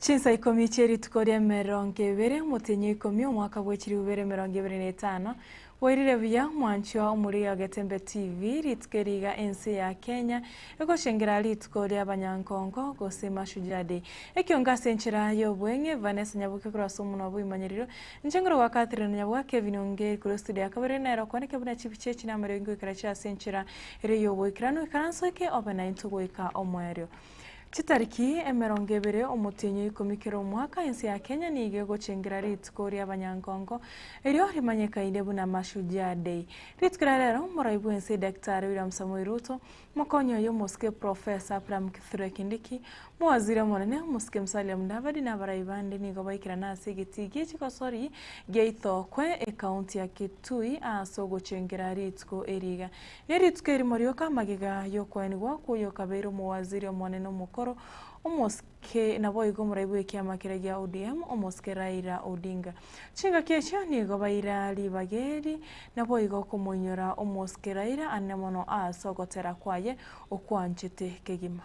Chinsa ikomi chie rituko ri'emerongo ebere, omotenyi o ikomi, omwaka bwe chiriubere emerongo ebere na etano. Bwairire buya, mwanchwa omoriri o Getembe TV, rituko eri iga ense ya Kenya egochengera rituko ri'abanyankonko gose Mashujaa Day. Ekiongo ase enchera y'obweng'e, Vanessa Nyabuke korwa ase omonwa bw'Imanyerero, inche nkore gwa Catherine Nanyabwa, Kevin Ongeri korwa estudio ya kabere nere okwaneke buna chifu chie chinama erio ingoikera chire ase enchera ere y'oboikeranu. Ikaranso eke obe naintwe goika omoerio. Chitariki emerongo ebere omotienyi oikomi kera omwaka ense ya Kenya nigo egochengera rituko riabanyankongo erio rimanyekaine buna Mashujaa Day. Rituko ria rero morai bwense Daktari William Samoei Ruto, mokonyi oye omosike Professor Abraham Kithure Kindiki, mowaziri omonene omosike Musalia Mudavadi na abarai bande nigo baikerana ase egetii gie chigosori gia Ithokwe, ekaunti ya Kitui ase ogochengera rituko eri iga. Ne rituko erimo rioka amagega y'okoenwa gwakwo y'okabeire omowaziri omonene omokoro, omosike, naboigo omoraibi bw'ekiama keria gia ODM, omosike Raila Odinga. Chingaki echio nigo baira ribaga eri, naboigo okomoinyora omosike Raila anene mono aase ogotera kwaye okwanchete kegima.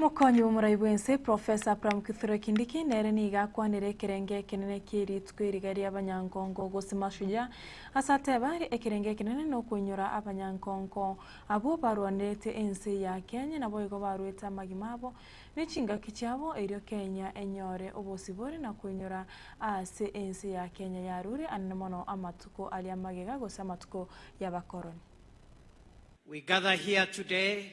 Mokonyi bw'omorai bw'ense, Profesa Abraham Kithure Kindiki nere nigo akwanire ekerenge ekenene ki'erituko eri riria ri'abanyankonko gose mashujaa, ase ateba, Ekerenge ekenene nokoinyora abanyankonko abwo barwanerete ense ya Kenya naboigo barwete amagima abo ne chingaki chiabo erio Kenya enyore obosibore na koinyora aase ense ya Kenya yarure anene mono amatuko aria amagega gose amatuko y'abakoroni. We gather here today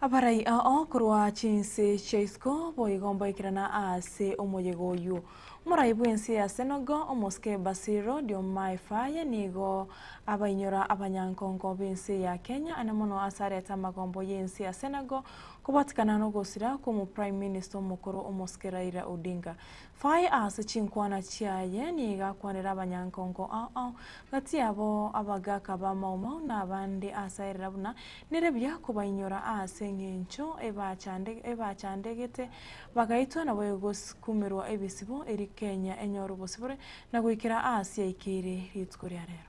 Abarai ao korwa chinse chia isiko boigo mboikerana aase omoyega oyio. Morai bw'ense ya Senogo, omosike Basiro Diomaye Faye nigo abainyora abanyankongo b'ense ya Kenya ane mono ase arete amagombo y'ense ya Senegal kobatikana nogosira kw'omu Prime Minister omokoro omosike Raila Odinga. Faye ase chinkwana chiaye nigo akwanera abanyankongo ao, ng'a tiabo abagaaka b'amaumau na abande ase airira buna nere buya kobainyora aase engencho ebachandegete bagaitwa nabo egosikumerwa ebisibo erio Kenya enyore obosibore na goikera aase yaikeire rituko ria rero.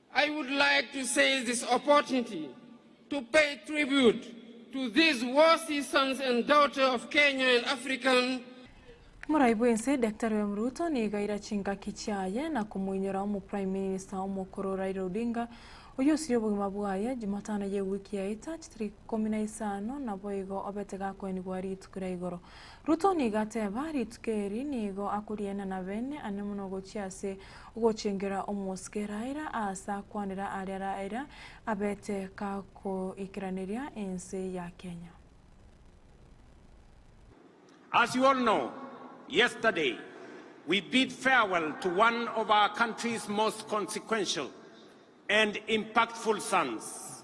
I would like to seize this opportunity to pay tribute to these worthy sons and daughter of Kenya and African Morai bwensi, Daktari William Ruto nigo aira chingaki chiaye na komoinyora omo Prime Minister omokoro Raila Odinga, oyio osirie obogima bwaye, Jumatano ye ewiki yaita, chitari ikomi na isano naboigo obete gakoenigwa rituko ria igoro. Ruto nigo ateba, Rituko eri nigo akoriena na bene ane mono gochia ase ogochengera omosike Raila aase akwanera aria Raila abete kagoikeraneria ense ya Kenya. As you all know, yesterday we bid farewell to one of our country's most consequential and impactful sons,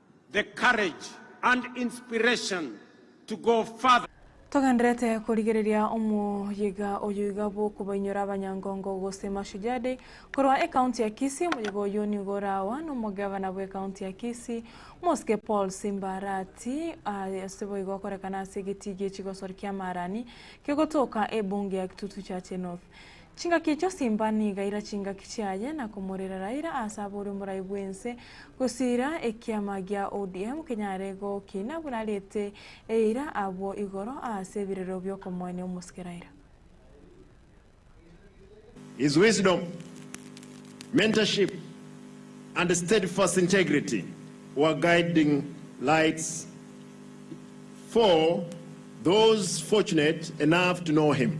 the courage and inspiration to go further. Togenderete korigereria omoyega oyo iga bw'okobainyora abanyangongo gose Mashujaa Day korwa ekaunti ya Kisii. Omoyega oyio nigo orawa nomogavana bw'ekaunti ya Kisii, Mosike Paul Simba Arati, ase boigo okorekana ase egetii gie chigosori kia Marani kegotoka ebunge ya Kitutu Chache North. Chingaki echio simba niga ira chingaki chiaye na komorera Raila ase abore omorai bw'ense gosiira ekiama gia ODM kenyare gokina buna ariete eira abwo igoro ase ebirero bi'okomoenia omosike Raila. His wisdom, mentorship and steadfast integrity were guiding lights for those fortunate enough to know him.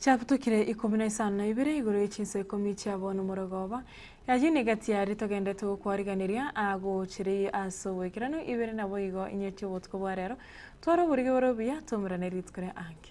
Chiabutukire ikomi na isano na ibere igoro ye chinso ikomi chiabo nomorogoba. Ayio nigo egati yaria togendete gokwariganeria agochereyie ase oboikeranu, ibere naboigo inye chi'obotuko bwa rero. Twara oborigi bore obuya, twaumerane rituko ria ange.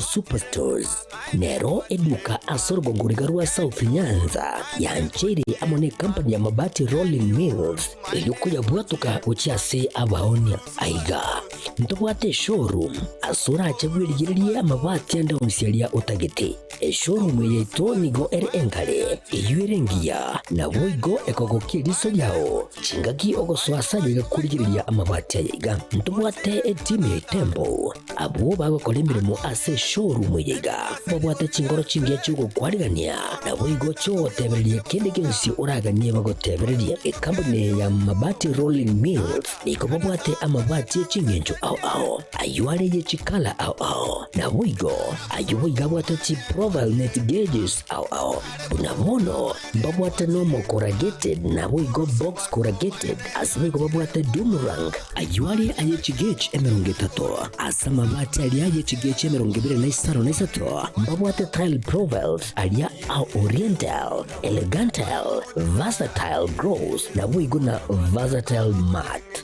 Superstores nero eduka ase orogogoriga rwa South Nyanza yancheire amo ne company ya Mabati Rolling Mills erio koyabwatoka gochia ase abaoni. Aiga ntobwate eshowroom ase orache bwerigererie amabati ande onsi aria otagete. Eshowroom eye yaito nigo ere enkare, eyio ere engiya, naboigo ekogokia eriso riao Chingaki ogosoa ase ayio igakorigereria amabati aya iga, ntobwate etimu ya etembo. Abwo bagokora emeremo ase eshowroom eye iga, mbabwate chinkoro chingiya chi'ogokwanigania, naboigo chi'ogotebereria kende gionsi oraganie bagotebererie. Ekambuni eye ya Mabati Rolling Mills nigo babwate amabati e chingencho ao ao, ayio are ye chikala ao ao, naboigo ayio boigo abwate chiprofile net gauges ao ao. Buna bono Mbabwate Normal Corrugated naboigo Box Corrugated ase boigo babwate Dumrang ayio are aye chigechi emerongo etato ase amabati aria aye chigechi emerongo ebere na isano na isato mbabwate Tile Provelt aria a Oriental Elegantal Versatile Gross naboigo na Versatile Mat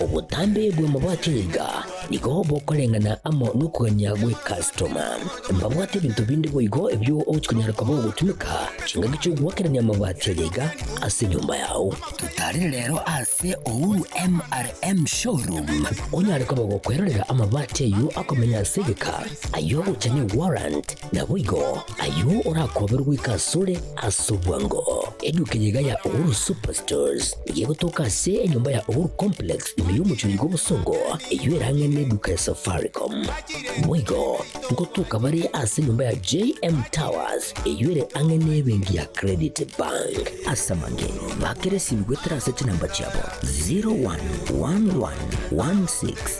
Obotambe bw'amabwato iga nigo bokoreng'ana amo nokogania gw'ekastoma. Mbabwate ebinto binde boigo ebio ogochia konyara koba ogotumeka chingaki chi'ogoakerania amabati aya iga ase enyomba yao. Totarire rero ase Uhuru MRM Showroom onyare koba gokwerorera amabati ayio akomenya ase egeka, ayio ogocha ne warrant, Naboigo, ayio orakoberwe goika asore ase obwango. Eduka eyio iga ya Uhuru Superstores nigo egotoka ase enyomba ya Uhuru Complex ime y'omochie oyiga obosongo, eyio erang'ane n'eduka ya Safaricom. Boigo, ngotoka bare ase enyomba ya JM Towers eyio ere ang'e n'ebenki ya Credit Bank. Ase amang'e, bakera esimi goetera ase chinamba chiabo 011116